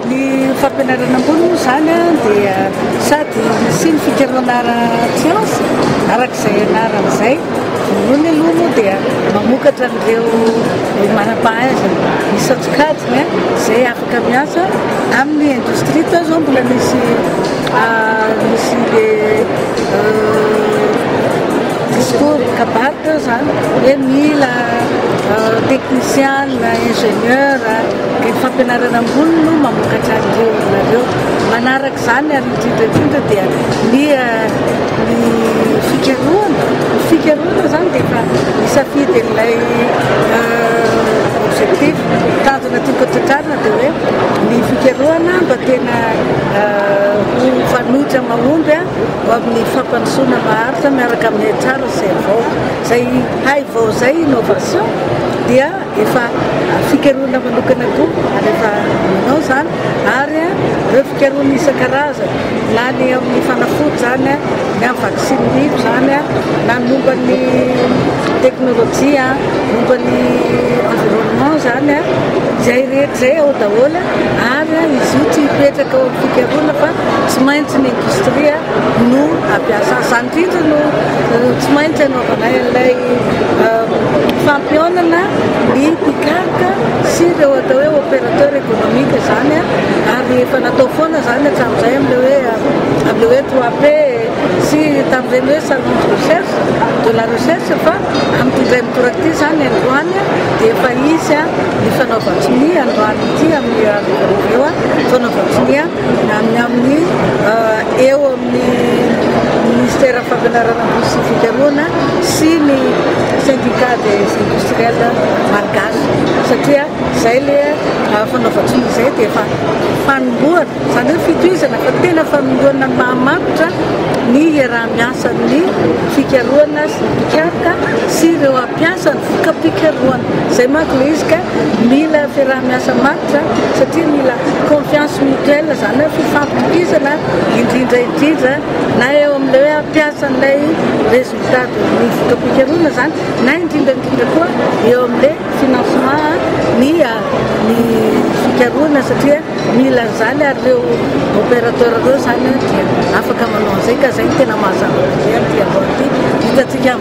Ny fampianarana ambony moa izany dia sady misy ny fikarohana ara-tsiansa araka izay anarany izay. Voalohany aloha moa dia mamokatra an'ireo manam-pahaizana isan-tsokajiny izay afaka miasa amin'ny indostria. Tao izao mbola nisy nisy le discours kabary tao izany hoe mila technician, ingénieur. Ny fampianarana ambony no mamokatra an'ireo olona ireo. Manaraka izany ary indrindra indrindra dia ny ny fikarohana. Ny fikarohana izany dia efa misafidy an'ilay objectif. Tanjona tiako hotratrarina dia hoe ny fikarohana mba tena ho fanoitra mahomby ho amin'ny fampandrosoana maharitra miaraka amin'ny HR sy ny vahoaka. Izay hay vao izay innovation dia. Efa fikarohana manokana koa ary efa manao izany ary ireo fikarohana isan-karazany na ny amin'ny fanafody izany, ny amin'ny vaksiny biby izany na ny momba ny teknolojia, momba ny environnement izany, izay rehetra izay ao daholo ary izy io tsy hipetraka ao amin'ny fikarohana fa tsy maintsy ny indostria. no ampiasa izany indrindra no tsy maintsy anaovana ilay fampihaonana ny mpikaroka sy ireo atao hoe opérateur économique izany ary efa natao foana izany hatramin'izay amin'ilay hoe amin'ilay hoe trois p sy tamin'ireny hoe salon de recherche de la recherche fa amin'ity indray mitoraka ity izany androany dia efa hisy ny fanaovan-tsonia androany ity amin'ny andro io fanaovan-tsonia na ny amin'ny eo amin'ny Ministera Fampianaran'Ankozy sy Fikarohana sy ny Syndicat des Industriels Malgaches satria izay ilay fanaovan-tsony izay dia efa fanombohana, izany hoe fitohizana fa tena fanombohana ny mahamatotra ny iaraha-miasan'ny fikarohana sy ny mpikaroka sy ireo Mpiasa ny voka-pikarohana. Izay manko ilay izy ka mila fiaraha-miasa matotra satria mila confiance mutuelle izany hoe fifampitokisana indrindra indrindra na eo amin'ilay hoe mpiasan'ilay résultat de ny voka-pikarohana izany na indrindra indrindra koa eo amin'ilay financement ny ny fikarohana satria mila an'izany ary ireo opérateur ireo izany dia afaka manao an'izay ka izay no tena mazava dia voalohany hitantsika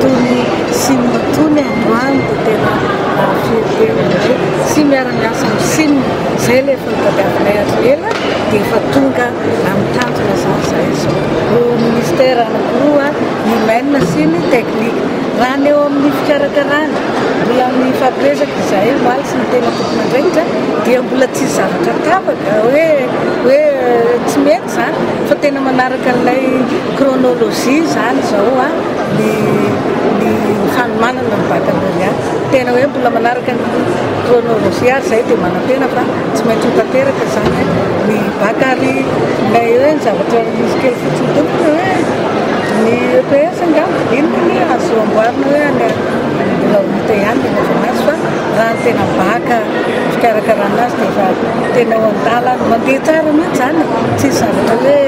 Tony Sina tony androany dia tena nahavierivery anay sy miara miasa amin'ny Sina izay ilay fitadiavanay azy ela dia efa tonga amin'ny tanjona zany izahay izao. Ho Ministère anankiroa ny Humaines sy ny Techniques. Raha ny eo amin'ny fikarakarana, mbola mifampiresaka izahay omaly sy ny tena tompon'andraikitra dia mbola tsisy zavatra tapaka hoe hoe tsy mety. Zany fa tena manaraka an'ilay chronologie izany izao ny ny hanomanana ny baccalauréat. Tena hoe mbola manaraka ny chronologie ary izay dia manantena fa tsy maintsy ho tanteraka izany ny bac ary ilay hoe ny zavatra misy kely fotsiny tompoko dia hoe ny EPS angamba inona ny azo amboarina hoe any mbola ho hita ihany ny mazava ho azy fa raha ny tena bac. fikarakarana azy dia efa tena ao an-dalana. Mandeha tsara mihitsy izany, tsisy zavatra hoe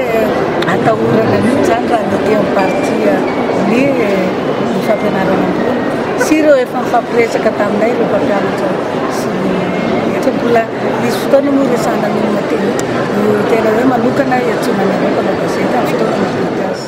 atahorana mihitsy izany raha ny aty amin'ny partie ny fampianarana ambony sy ireo efa nifampiresaka taminay ireo mpampianatra sy efa mbola nisy fotoana moa resahana ny olona teny no tena hoe manokana hiantsoana anareo mpanao gazety amin'ny fotoana mahafaty azy.